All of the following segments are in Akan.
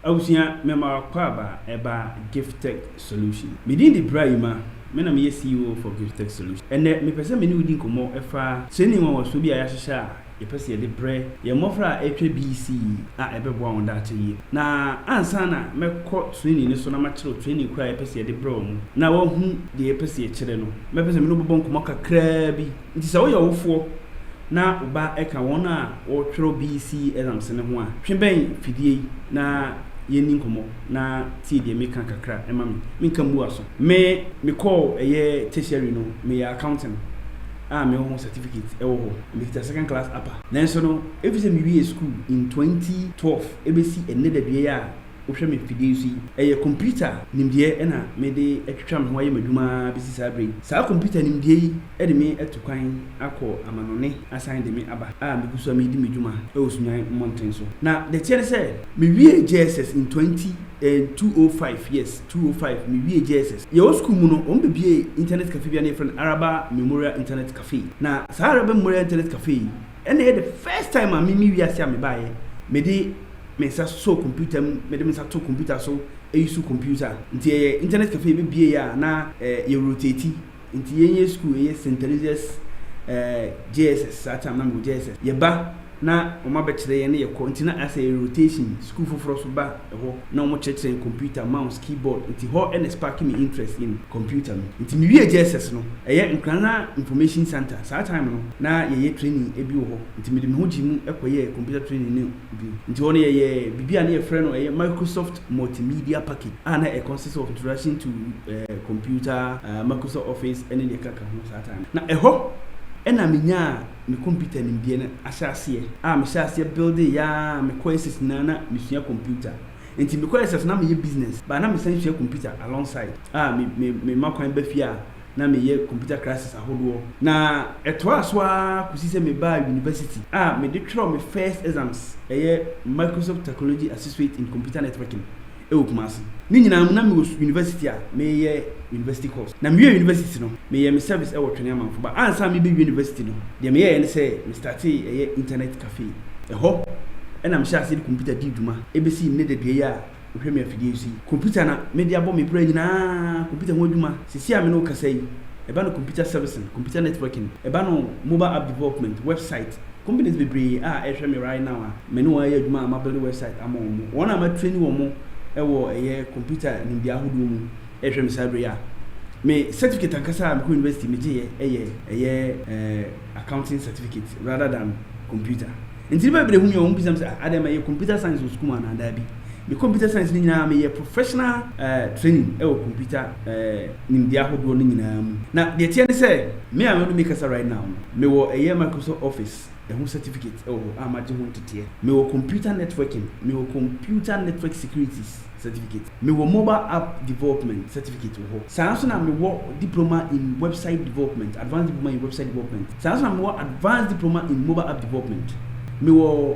Abusua mema w'akwaaba ɛba Giftec Solutions. Me din de Bra Yuma, me na meyɛ CEO for Giftec Solutions. Ɛnnɛ, mepɛ sɛ me ne wo di nkɔmmɔ ɛfa training nwanwasoɔ bi a yɛahyehyɛ a yɛpɛ sɛ yɛde brɛ yɛn mmɔfra a ɛretwa BEC yi a ɛbɛboa wɔn daakye yie. Na ansa na mɛkɔ training no so na makyerɛw training koro a yɛpɛ sɛ yɛde brɛ wɔn na wɔahu deɛ yɛpɛ sɛ yɛkyerɛ no, mɛpɛ sɛ me ne wo bɛbɔ nkɔmmɔ kakraa bi. Enti sɛ woyɛ ɔwofoɔ na wo ba ka wɔn a wɔtwerɛ BECE exams no ho a, twe bɛn fidie yi na yɛnni nkɔmmɔ na tie deɛ meka kakra ma me. Menka mmua so. Me, mekɔɔ ɛyɛ tertiary no, meyɛ accounting a mewɔ ho certificate ɛwɔ hɔ. Mekita second class upper. Nanso no, ɛfiri sɛ mewiee sukuu in 2012 ɛbɛsi ɛnnɛ daduɛ yi a, wohwɛ me mfidie yi so yi, ɛyɛ kɔmputa nimdeɛ na mede atwitwa me ho ayɛ m'adwuma ara bɛsi saa berɛ yi. Saa kɔmputa nimdeɛ yi de me atu kwan akɔ amanɔne asan de me aba a megu so a meredi me dwuma wɔ Sunyani mmɔnten so. Na deɛ ɛteɛ ne sɛ, mewiee JSS in 20 eh, 205, yes, 205, mewiee JSS. Yɛwɔ sukuu mu no, wɔbɛbuee internet cafe bi a na yɛfrɛ no Araba Memorial Internet Cafe. Na saa Araba Memorial Internet Cafe yi, Ɛna ɛyɛ the first time a mimi wiase a mebaeɛ mede me nsa sɔ computer mu mede me nsa to computer so eyi so computer nti ɛyɛ internet cafe yɛbɛbie yɛ a na eh, yɛ rotate nti yɛn yɛ school ɛyɛ St Teresa's eh, JSS saa time na mewɔ JSS yɛba na wɔn abɛkyerɛ yɛn ne yɛkɔ nti na asɛ yɛ rotation school foforɔ so ba hɔ na wɔn kyerɛkyerɛ yɛn computer, mouse, keyboard nti hɔ na spark me interest in computer no nti me wie JSS no ɛyɛ Nkrana information centre saa time no na yɛ yɛ training bi wɔ hɔ nti me de me ho gyee mu kɔ yɛɛ computer training no bi nti hɔ no yɛ yɛ biribi a na yɛ frɛ no ɛyɛ Microsoft multimedia package a na ɛ consist of introduction to eh, computer, eh, Microsoft office ɛne deɛ kaka ho saa time no na ɛhɔ ɛna me nyaa me computer nimdeɛ no ahyɛ aseɛ. A mehyɛ aseɛ building yaa me courses nyinaa na mesua computer nti me courses na meyɛ business but na mesan sua computer along side a me me mema kwan ba fie a na meyɛ computer classes ahodoɔ na ɛtoaa so ara kɔsi sɛ mebaa university a mede twerɛɛ me first exams ɛyɛ Microsoft Technology Associate in Computer Networking wɔ Kumasi. Ne nyinaa mu, na mewɔ university a mereyɛ university course. Na mewiee university no, meyɛɛ me service wɔ Twene Amanfo Ba. Ansa na merebɛwie university no, deɛ meyɛeɛ ne sɛ me startee ɛyɛ internet cafe. Ɛhɔ na mehyɛɛ aseɛ de computer dii dwuma bɛsii nnɛ dadua yi a wohwɛ me afidie yi so yi. Computer na mede abɔ me bra nyinaa, computer ho adwuma. Seesei a me ne wo kasa yi, ɛba no computer servicing, computer networking, ɛba no mobile app development, website, Companies bebree a ɛhwɛ me right now a me ne wɔn ayɛ adwuma a ma build website ama wɔn, wɔn a ma traini wɔn wɔ ɛyɛ computer nimdeɛ ahodoɔ mu ɛhwɛ me saa berɛ yi a me certificate ankasa a mekɔ university me gyeeɛ ɛyɛ ɛyɛ eh, accounting certificate rather than computer. Nti nipa bebree hu me a wɔn bisa me sɛ ah adɛn ma ɛyɛ computer science wɔ sukuu mu anaa daabi. Me computer science no nyinaa meyɛɛ professional training wɔ computer nimdeɛ ahodoɔ no nyinaa mu. Na deɛ ɛteɛ ne sɛ me a me ne kasa right now no mewɔ ɛyɛ Microsoft Office ɛho certificate wɔ hɔ a magye ho nteteɛ. Mewɔ computer networking, mewɔ computer network security certificate, mewɔ mobile app development certificate wɔ hɔ. Saa ara nso na mewɔ diploma in website development, advanced diploma in website development. Saa ara nso na mewɔ advanced diploma in mobile app development. Mewɔ.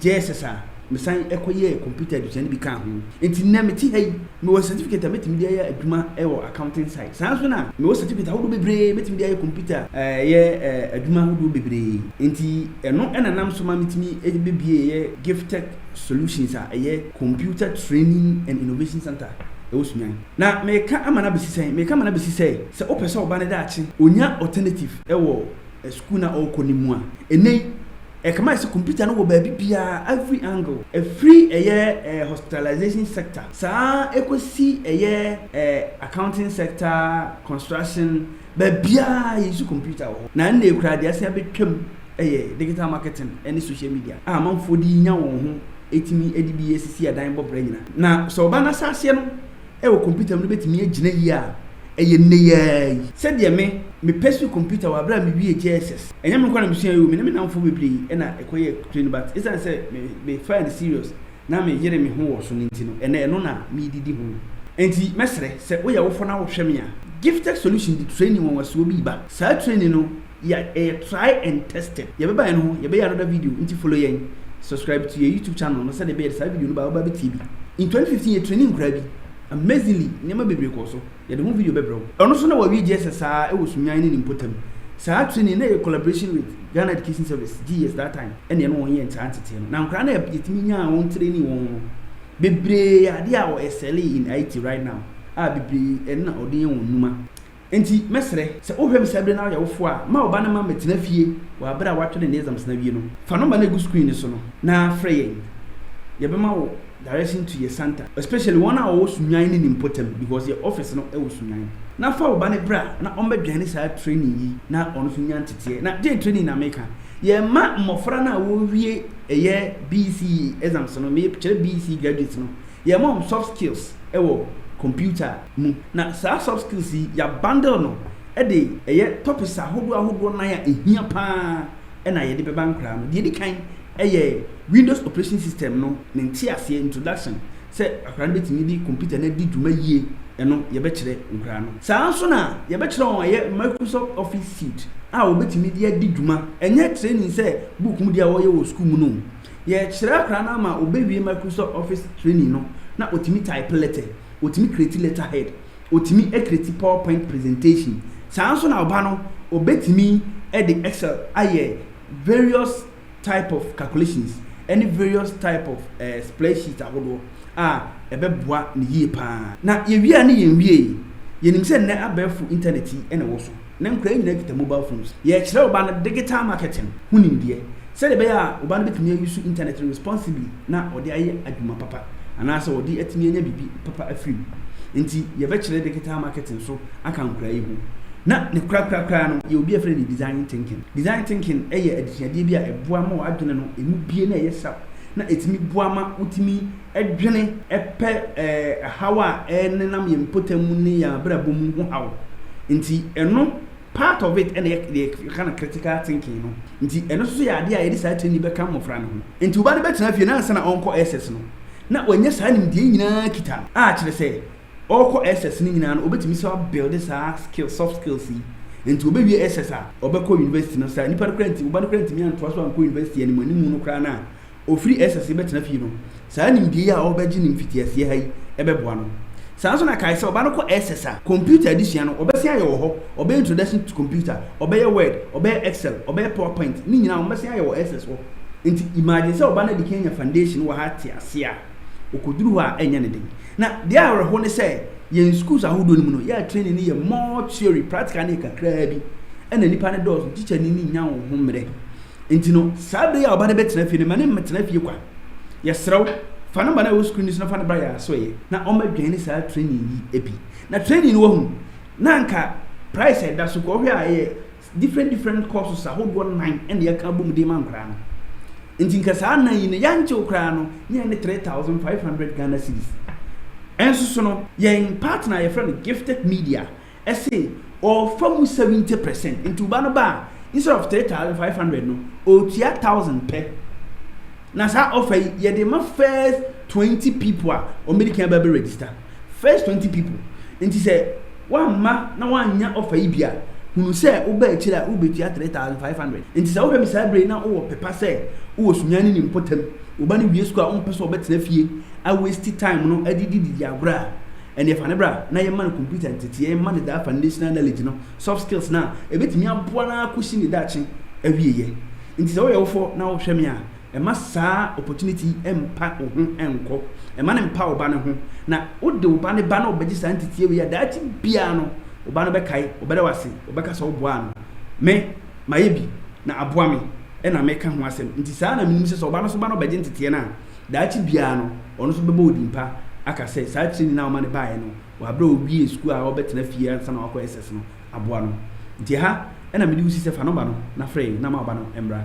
Gyɛɛ SS a, mesan kɔyɛɛ kɔmputa adesua no bi kaa ho. Enti nnɛ mete ha yi, mewɔ certificate a metumi de ayɛ adwuma wɔ accounting side. Saa ara nso na mewɔ certificate ahodoɔ bebree a metumi de ayɛ kɔmputa yɛ adwuma ahodoɔ bebree. Enti ɛno na ɛnam so ma metumi de bɛbueeɛ Gifttech Solutions a ɛyɛ Computer Training and Innovation Centre wɔ Sunyani. Na mereka ama no abɛsi sɛn? Mereka ama no abɛsi sɛ, sɛ wopɛ sɛ wo ba no daakye ɔnya alternative wɔ sukuu no a ɔrekɔ no mu a, nnɛ yi Ɛkama sɛ computer no wɔ baabi biara, every angle. Ɛfiri ɛyɛ eh, hospitalization sector saa ɛkɔsi ɛyɛ eh, accounting sector, construction, baabiara yɛuse computer wɔ hɔ. Na ɛnna koraa deɛ asan bɛtwam ɛyɛ digital marketing ɛne social media a amanfoɔ de nya wɔn ho ɛtumi ɛde bi ɛsisi adan bɔ bra nyina. Na sɛ ɔba no asaseɛ no, Wɔ kɔmputa mu no bɛtumi agyina yi a ɛyɛ nnɛyiaa yi. Sɛdeɛ me, me pɛ suu kɔmputa wɔ aberɛ a me wiee JSS. Ɛnyɛ me nko na me suaeɛ oo, me ne me nnamfoɔ bebree na ɛkɔ yɛɛ train but ɛsiane sɛ me, me faa no serious na me yere me ho wɔ so no nti no, ɛnnɛ ɛno na me de di ho. Ɛnti mɛsrɛ sɛ wo yɛ awofɔ na wo hwɛ me a, Gifted Solution de training nwanwasuo bi reba. Saa training no Yɛ ɛyɛ try and tested. Yɛ bɛba yɛn ho yɛ bɛyɛ another video nti follow yɛn subscribe to yɛ YouTube channel no sɛdeɛ ɛbɛyɛ de saa video no ba wobɛ bɛtie bi. In twenty fifteen yɛ trainee nkoraa bi amazingly nneɛma bebree kɔɔ so yɛ de ho video bɛbrɛ wo. Ɔno nso na wawie JSS saa ɛwɔ Sunyani ne ne mpotam. Saa trainee no yɛ collaboration with Ghana Education Service, GES, that time ɛna yɛne wɔn yɛɛ saa nteteɛ no na nkoraa no a yɛtumi nyaa wɔn trainee wɔn no bebree yɛ adeɛ a wɔ excel in IT right now a bebree ɛno na wɔde yɛ wɔn nnwuma Enti mɛsrɛ, sɛ wohwɛ me saa bere no ara ɔyɛwofo a, ma wo ba no ma mmɛtena fie wɔ bere a watwe ne ne exams no awie no. Fa number no a egu screen no so no na frɛ yɛn. Yɛbɛma wo direction to yɛ Santa, especially wɔn a wɔwɔ Sunyani ne ne mpɔtam because yɛ office no wɔ Sunyani. Na fa wo ba no bra na ɔmmɛdwɛn ne saa training yi na ɔno nso nya nteteɛ. Na deɛn training na meka? Yɛmma mmɔfra no a wɔrewie ɛyɛ BECE exams no, mekyerɛ BECE graduates no, yɛmma wɔn soft skills wɔ computer, mu. Na saa soft skills yi yɛ abundle no de ɛyɛ topics ahodoɔ ahodoɔ nan a ɛhia pa ara na yɛde bɛba nkwadaa no. Deɛ ɛdi kan yɛ Windows operation system no ne nteaseɛ, introduction, sɛ akwadaa no bɛtumi de computer no adi dwuma yie ɛno yɛbɛkyerɛ nkwadaa no. Saa ara nso na yɛbɛkyerɛ wɔn ɛyɛ Microsoft Office Suite a wɔbɛtumi de adi dwuma. Ɛnyɛ training sɛ book mu deɛ wɔyɛ wɔ sukuu mu no o. Yɛkyerɛ akwadaa no ama ɔbɛwie Microsoft Office training no na ɔtumi type letter. ɔtumi create letter head, ɔtumi create power point presentation, saa ara nso na ɔba no ɔbɛtumi de excel ayɛ various type of calculations ɛne various type of eh, spreadsheet ahodoɔ a ɛbɛboa ne yie paa. Na yɛwie a ne yɛnwiee, yɛnim sɛ nnɛ abɛɛfo internet yi na ɛwɔ so. na nkwadaa nyinaa kita mobile phones. Yɛrekyerɛ wo ba no digital marketing ho nimdeɛ sɛdeɛ ɛbɛyɛ a wo ba no bɛtumi a use internet no responsibly na ɔde ayɛ adwuma papa anaasɛ ɔde atumi anya biribi papa afiri mu. Nti yɛbɛkyerɛ digital marketing so aka nkwadaa yi ho. Na ne korakora koraa no yɛwɔ bi a yɛfrɛ no design thinking. Design thinking yɛ adesuadeɛ bi a ɛboa ma w'adwene no ɛmu bue na ɛyɛ sharp na ɛtumi boa ma wotumi dwene pɛ haw a ɛnenam yɛn mpɔtam mu ne yɛn abrabɔ mu ho haw nti ɛno part of it ɛna yɛ yɛka no critical thinking no nti ɛno nso yɛ adeɛ a yɛde saa tirinni bɛka mmɔfra no ho nti ɔbaa no bɛtena fie na ansa na ɔnkɔ SS no na wanya saa nimdeɛ nyinaa kita no a kyerɛ sɛ ɔkɔ SS no nyinaa no ɔbɛtumi sɛ abuild saa skill soft skills yi nti ɔbɛwie SS a ɔbɛkɔ university no saa nipa no kora nti ɔba no kora ntumi antoa so ankɔ university anim anim no koraa no a ɔfiri Ɛsɛ sɛ bɛtena fie no, saa nimdeɛ yi a ɔrebɛgye no mfitiaseɛ ha yi bɛboa no. Saa ara nso na kae sɛ ɔba no kɔ Ɛsɛ a, kɔmputa adesua no, ɔbɛsen ayɛ wɔ hɔ, ɔbɛyɛ Introduction to Computer, ɔbɛyɛ Word, ɔbɛyɛ Excel, ɔbɛyɛ PowerPoint, ne nyinaa wɔbɛsen ayɛ wɔ Ɛsɛ hɔ. Nti imagine sɛ ɔba no adi kan anya foundation wɔ ha te aseɛ a, ɔkɔduru hɔ a ɛnyɛ ne den. Na deɛ ɛyɛ awerɛhoɔ ne sɛ, yɛn schools ahodoɔ no mu no, yɛ a training no yɛ more theory, practical no yɛ kakraa bi, ɛna nnipa no dɔɔso, teacher ni no nnya wɔn ho mmerɛ. Nti no, saa bere yi a ɔba no bɛtena fie no, ma no mmɛtena fie kwa. Yɛsrɛ wo, fa no ma no a ɛwɔ sukuu no so na fa no bra yɛn asoɛeɛ na ɔmmɛdwɛn ne saa training yi bi. Na training no wahunu, na anka price a ɛda so kɔ, wohwɛ a ɛyɛ different different courses ahodoɔ nnan ɛna yɛaka abom de ma nkwadaa no. Nti nka saa nnan yi no, yɛankye wo koraa no, ne yɛn ne 3,500 Ghana cedis. Ɛnso so no, yɛn partner a yɛfrɛ no Gifted Media, ɛse ɔɔfa mu seventy percent nti wo ba no ba a instead of three thousand five hundred no ɔɔtua thousand pɛ na saa ɔfa yi yɛde ma first twenty people a ɔmɛdi kan bɛbɛ register first twenty people nti sɛ wamma na wanya ɔfa yi bi a hunu sɛ woba akyire a wobɛtua three thousand five hundred nti sɛ wohwɛ me saa bere na wowɔ pepa sɛ wowɔ sunya ne ne mpɔtam wo ba no wie sukuu a wompɛ sɛ ɔbɛtena fie awesti time no adidididi agorɔ a Ɛnneɛ fa no bra na yɛmma no computer nteteɛ, yɛmma no daa foundational knowledge no, soft skills no a ɛbɛtumi aboa no ara kɔsi ne daakye awieeɛ. Nti sɛ woyɛ wofoɔ na wohwɛ me a, mma saa opportunity yi mmpa wo ho nkɔ. Mma no mmpa wo ba no ho. Na wode wo ba no ba na ɔbɛgye saa nteteɛ wei a, daakye biara no wo ba no bɛkae, ɔbɛda wo ase, ɔbɛka sɛ woboaa no. Me, mayɛ bi na aboa me na meka ho asɛm. Nti saa na menim sɛ sɛ wo ba no nso ba na ɔbɛgye nteteɛ no a, daakye biara no, ɔno nso bɛbɔ wo din pa aka sɛ saa tirinwi a woma no baeɛ no wɔ berɛ a ɔwiee sukuu a ɔrebɛtena fie ansa na wakɔ SS no aboa no. Nti ɛha na mede wo si sɛ fa nɔmba no na frɛ yɛn na ma wo ba no mmra.